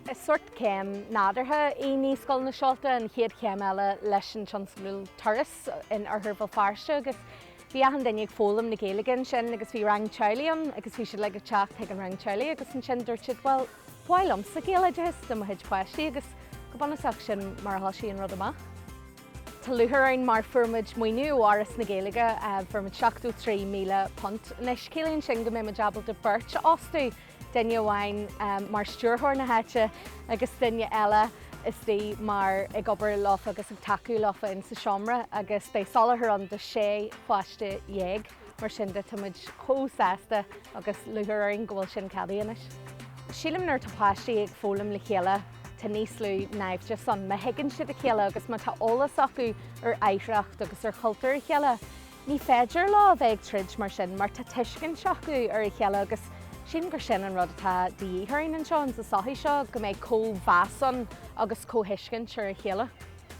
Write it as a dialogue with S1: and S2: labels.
S1: Is sórt céim nádúrtha í Naíscoil na Seolta, an chéad chéim eile leis an tionscnamh Turas in Oirthear Bhéal Feirste agus bhí achan duine ag foghlaim na Gaeilge ansin agus bhí rang teaghlaigh ann agus bhí siad uilig ag teacht chuig an rang teaghlaigh agus ansin dúirt siad bhuel, ba mhaith liomsa Gaeloideachas do mo chuid páistí agus go bunúsach sin mar a thoisigh an rud amach. Tá lúcháir orainn mar fuair muid maoiniú ó Fhoras na Gaeilge, fuair muid £73,000. Anois ciallaíonn sin go mbeidh muid ábalta beirt a fhostú, duine amháin mar stiúrthóir na háite agus duine eile istigh mar, ag obair leofa agus ag tacú leofa insa seomra agus beidh soláthar ann do sé pháiste dhéag. Mar sin de, tá muid chomh sásta agus lúcháir orainn go bhfuil sin ceadaithe anois. Sílim nuair atá páistí ag foghlaim le chéile, tá níos lú naimhdeas ann. Má thuigeann siad a chéile agus má tá eolas acu ar oidhreacht agus ar chultúr a chéile, ní féidir leo a bheith ag troid mar sin mar tá tuiscint acu ar a chéile agus sílim gur sin an rud atá de dhíth orainn anseo in sa sochaí seo, go mbeidh comhmheas ann agus comhthuiscint ar a chéile.